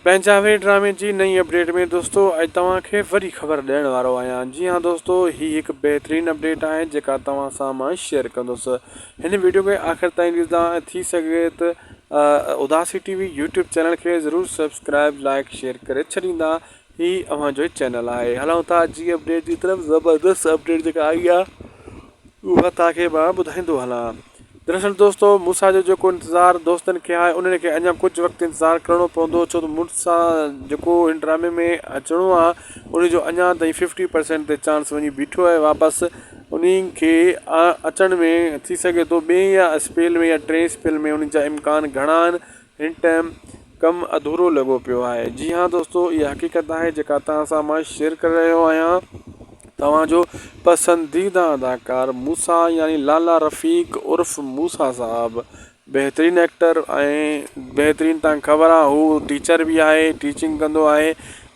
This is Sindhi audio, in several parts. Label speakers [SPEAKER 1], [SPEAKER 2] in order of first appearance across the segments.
[SPEAKER 1] پنهنجا وي ڊرامي جي نئين اپڊيٽ ۾ دوستو اڄ توهان کي وري خبر ڏيڻ وارو آهيان جي ها دوستو هي هڪ بهترين اپڊيٽ آهي جيڪا توهان سان مان شيئر ڪندس هن ويڊيو کي آخر تائين ڏسدا ۽ ٿي سگهي ته اداسي ٽي وي يوٽيوب چينل کي ضرور سبسڪرائب لائڪ شيئر ڪري ڇڏيندا هي اوهان جو چينل آهي هلون ٿا جي اپڊيٽ جي طرف زبردست اپڊيٽ جيڪا آئي آ اها توهان کي مان ٻڌائيندو هلان دراصل دوستو مون سان جو جيڪو انتظار دوستن کي آهي انهن کي اڃا ڪجهه وقت انتظار ڪرڻو پوندو ڇو ته مون سان جيڪو هن ڊرامي ۾ اچڻو آ ان جو اڃا تائين ففٽي پرسنٽ تي چانس وڃي بيٺو آهي واپس انهي کي اچڻ ۾ ٿي سگهي ٿو ٻئي يا اسپيل ۾ يا ٽئين اسپيل ۾ انهن جا امڪان گهڻا آهن هن ٽائيم ڪم اڌورو لڳو پيو آهي جي ها دوستو اها حقيقت آهي جيڪا توهان سان مان شيئر ڪري رهيو آهيان توهان جو پسنديده اداڪار موسا يعني لالا رفيق عرف موسا صاحب بهترين ايڪٽر ۽ بهترين تان خبر آهي هو ٽيچر به آهي ٽيچنگ ڪندو آهي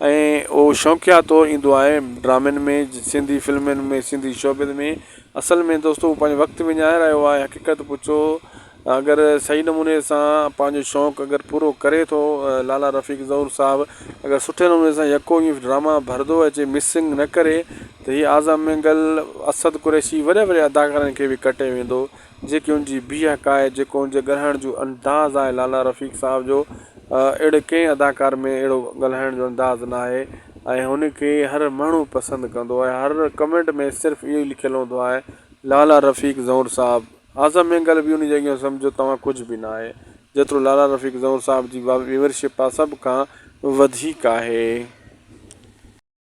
[SPEAKER 1] ۽ هو شوقيا طور ايندو آهي ڊرامن ۾ سنڌي فلمن ۾ سنڌي شوبز ۾ اصل ۾ دوستو پنهنجو وقت وڃائي رهيو آهي حقيقت پڇو اگر صحيح نموني سان پنهنجو شوق اگر پورو ڪري ٿو لالا رفيق ظهور صاحب اگر سٺي نموني سان يڪو ايف ڊراما ڀردو اچي مسنگ نه ڪري ته هي اعظم مينگل اسد قريشي وڏي وڏي اداڪارن کي به ڪٽي ويندو جيڪي ان جي بيهڪ آهي جيڪو ان جي ڳالهائڻ جو انداز آهي لالا رفيق صاحب جو اهڙي ڪنهن اداڪار ۾ اهڙو ڳالهائڻ جو انداز نه آهي ۽ هن کي هر ماڻهو پسند ڪندو آهي هر ڪمينٽ ۾ صرف اهو لکيل هوندو آهي لالا رفيق ظهور صاحب. اعظم مينگل به انهيء جيان سمجهيو توهان ڪجهه به ناهي، جيترو لالا رفيق زئور صاحب جي ويورشپ آ سڀ کان وڌيڪ آهي.